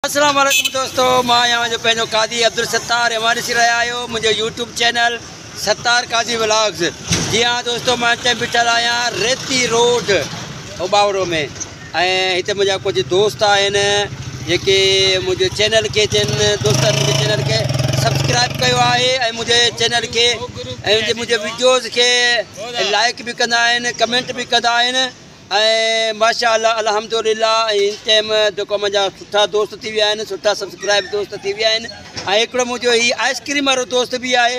السلام عليڪم دوستو مان آهيان جو پنهنجو قاضي عبدالستار اوهان ڏسي رهيا آهيو منهنجو YouTube channel Sattar Qazi vlogs جي ها دوستو مان اتي بيٺل آهيان ريتي روڊ اوباورو ۾ ۽ هتي منهنجا ڪجهه دوست آهن جيڪي منهنجي چينل کي جن دوستن منهنجي چينل کي سبسڪرائب ڪيو آهي ۽ منهنجي چينل کي ۽ منهنجي ويڊيوز کي لائڪ به ڪندا آهن ڪمينٽ به ڪندا آهن ۽ ماشاء الله الحمد لله هن ٽائيم جيڪو منهنجا سٺا دوست ٿي ويا آهن سٺا سبسڪرائب دوست ٿي ويا آهن ۽ هڪڙو منهنجو هي آئسڪريم وارو دوست بي آهي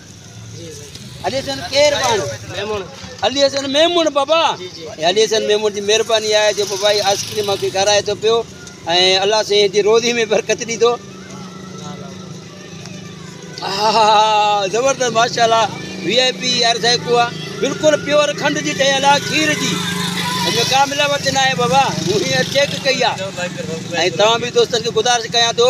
علي حسن ڪير بان ميمون علي حسن ميمون بابا جي جي علي حسن ميمون جي مهرباني آهي جو بابا جي آئس ڪريم کي کارائي ٿو پيو ۽ الله سين جي روزي ۾ برڪت ڏي ٿو زبردست ماشاء الله وي آء پي يار سائي کو بالکل پيور کنڊ جي ٺهيل آ کير جي ان ۾ ڪا ملاوٽ نه آهي بابا مون هي چيڪ ڪئي آ ۽ توهان به دوستن کي گذارش ڪيان ٿو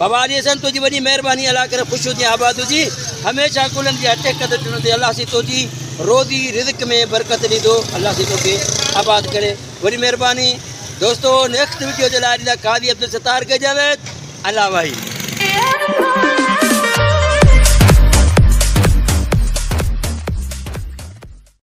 بابا علي حسن تنهنجي وڏي مهرباني الله ڪري خوش هجين آباد هجي هميشه گلن جي اٽي قدر ڏنو ٿي الله سي تنهنجي روزي رزق ۾ برڪت ڏيندو الله سي توکي آباد ڪري وڏي مهرباني دوستو نيڪسٽ ويڊيو جي لاء قاضي عبدالستار کي جاويد الله واهي